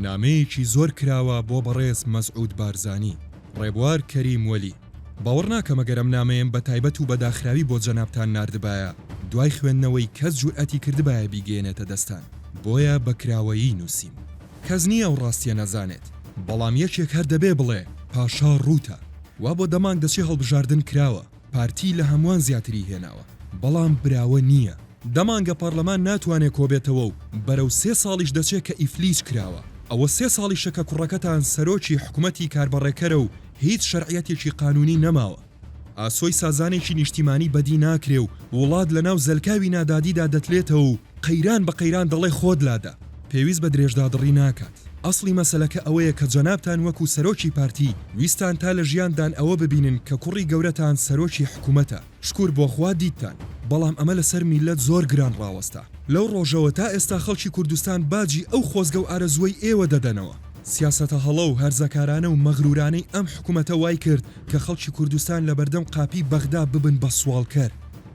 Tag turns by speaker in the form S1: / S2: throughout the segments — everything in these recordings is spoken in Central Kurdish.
S1: نامەیەکی زۆر کراوە بۆ بەڕێز مەسعود بارزانی. ڕێبوار کەریم وەلی، باوەڕ ناکەم ئەگەر ئەم نامەیەم بە تایبەت و بە داخراوی بۆ جەنابتان ناردبایە، دوای خوێندنەوەی کەس جورئەتی کردبایە بیگەیەنێتە دەستان، بۆیە بە کراوەیی نوسیم. کەس نییە ئەو ڕاستییە نەزانێت، بەڵام یەکێک هەر دەبێ بڵێ پاشا ڕووتە. وا بۆ دەمانگ دەچێ هەڵبژاردن کراوە. پارتی لە هەموان زیاتری هێناوە بەڵام براوە نییە. دە مانگە پارلەمان ناتوانێ کۆبێتەوە و بەرەو سێ ساڵیش دەچێ کە ئیفلیج کراوە. ئەوە سێ ساڵیشە کە کوڕەکەتان سەرۆکی حکومەتی کاربەڕێکەرە و هیچ شەرعیەتێکی قانونی نەماوە. ئاسۆی سازانێکی نیشتیمانی بەدی ناکرێ و وڵات لە ناو زەلکاوی نادادیدا دەتلێتەوە و قەیران بە قەیران دەڵێ خۆت لادە. پێویست بە درێژدادڕی ناکات. ئەسڵی مەسەلەکە ئەوەیە کە جەنابتان وەکو سەرۆکی پارتی ویستان تا لە ژیاندان ئەوە ببینن کە کوڕی گەورەتان سەرۆکی حکومەتە. شکور بۆ خوا دیتتان. بەڵام ئەمە لە سەر میللەت زۆر گران ڕاوەستا. لەو ڕۆژەوە تا ئێستا خەڵکی کوردستان باجی ئەو خۆزگە و ئارەزووەی ئێوە دەدەنەوە. سیاسەتە هەڵە و هەرزەکارانە و مەغرورانەی ئەم حکومەتە وای کرد کە خەڵکی کوردستان لە بەردەم قاپی بەغدا ببن بە سواڵکەر.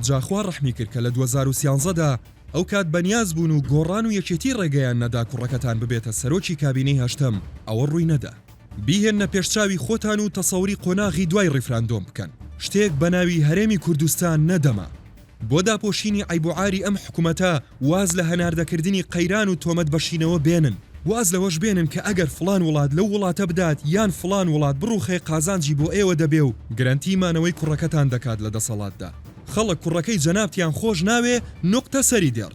S1: جا خوا ڕەحمی کرد کە لە دوەزار و سیانزە دا ئەو کات بەنیاز بوون و گۆڕان و یەکێتی ڕێگەیان نەدا کوڕەکەتان ببێتە سەرۆکی کابینەی هەشتەم، ئەوە ڕووی نەدا. بیهێننە پێش چاوی خۆتان و تەسەوری قۆناغی دوای ڕیفراندۆم بکەن، شتێک بەناوی هەرێمی کوردستان نەدەما. بۆ داپۆشینی عەیب و عاری ئەم حکومەتە واز لە هەناردەکردنی قەیران و تۆمەت بەشینەوە بێنن، واز لەوەش بێنن کە ئەگەر فڵان وڵات لەو وڵاتە بدات یان فڵان وڵات بڕوخێ قازانجی بۆ ئێوە دەبێ و گرەنتی مانەوەی کوڕەکەتان دەکات لە دەسەڵاتدا. خەڵک کوڕەکەی جەنابتیان خۆش ناوێ نوقتە سەری دێڕ.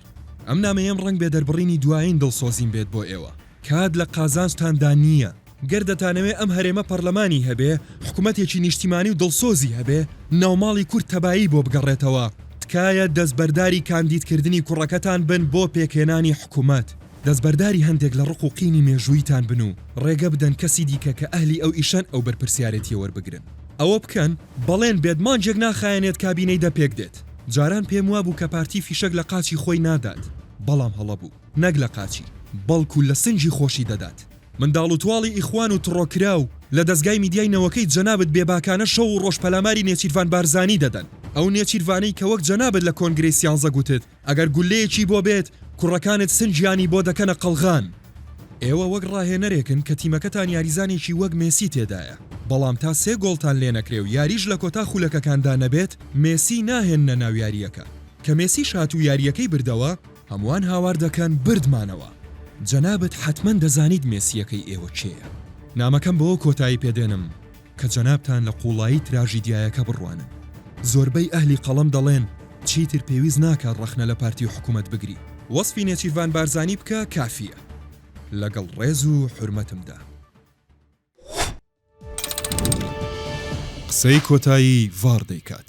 S1: ئەم نامەیەم ڕەنگ بێ دەربڕینی دوایین دڵسۆزیم بێت بۆ ئێوە. کات لە قازانجتان دا نییە. گەر دەتانەوێ ئەم هەرێمە پەڕلەمانی هەبێ، حکومەتێکی نیشتیمانی و دڵسۆزی هەبێ، ناوماڵی کورد تەبایی بۆ بگەڕێتەوە، تکایە دەستبەرداری کاندیدکردنی کوڕەکەتان بن بۆ پێکهێنانی حکومەت. دەستبەرداری هەندێک لە ڕق و قینی مێژووییتان بن و ڕێگە بدەن کەسی دیکە کە ئەهلی ئەو ئیشەن ئەو بەرپرسیارێتییە وەربگرن. ئەوە بکەن بەڵێن بێت مانگێک ناخایەنێت کابینەی دە پێک دێت. جاران پێم وابوو کە پارتی فیشەک لە قاچی خۆی نادات، بەڵام هەڵە بوو. نەک لە قاچی، بەڵکو لە سنگی خۆشی دەدات. منداڵ و تواڵی ئیخوان و تڕۆکراو لە دەزگای میدیای نەوەکەی جەنابت بێباکانە شەو و ڕۆژ پەلاماری نێچیرڤان بارزانی دەدەن. ئەو نێچیرڤانەی کە وەک جەنابت لە کۆنگرەی سیانزە گوتت ئەگەر گوللەیەکی بۆ بێت کوڕەکانت سنگیانی بۆ دەکەنە قەڵغان. ئێوە وەک ڕاهێنەرێکن کە تیمەکەتان یاریزانێکی وەک مێسی تێدایە، بەڵام تا سێ گۆڵتان لێ نەکرێ و یاریش لە کۆتا خولەکەکاندا نەبێت مێسی ناهێننە ناو یارییەکە، کە مێسیش هات و یارییەکەی بردەوە، هەمووان هاوار دەکەن بردمانەوە، جەنابت حەتمەن دەزانیت مێسییەکەی ئێوە کێیە. نامەکەم بەوە کۆتایی پێ دێنم. کە جەنابتان لە قوڵایی تراژیدیایەکە بڕوانن زۆربەی ئەهلی قەڵەم دەڵێن چیتر پێویست ناکات ڕەخنە لە پارتی و حکومەت بگری. وەسفی نێچیرڤان بارزانی بکە کافیە. لەگەڵ ڕێز و حورمەتمدا. قسەی کۆتایی ڤاڕ دەیکات.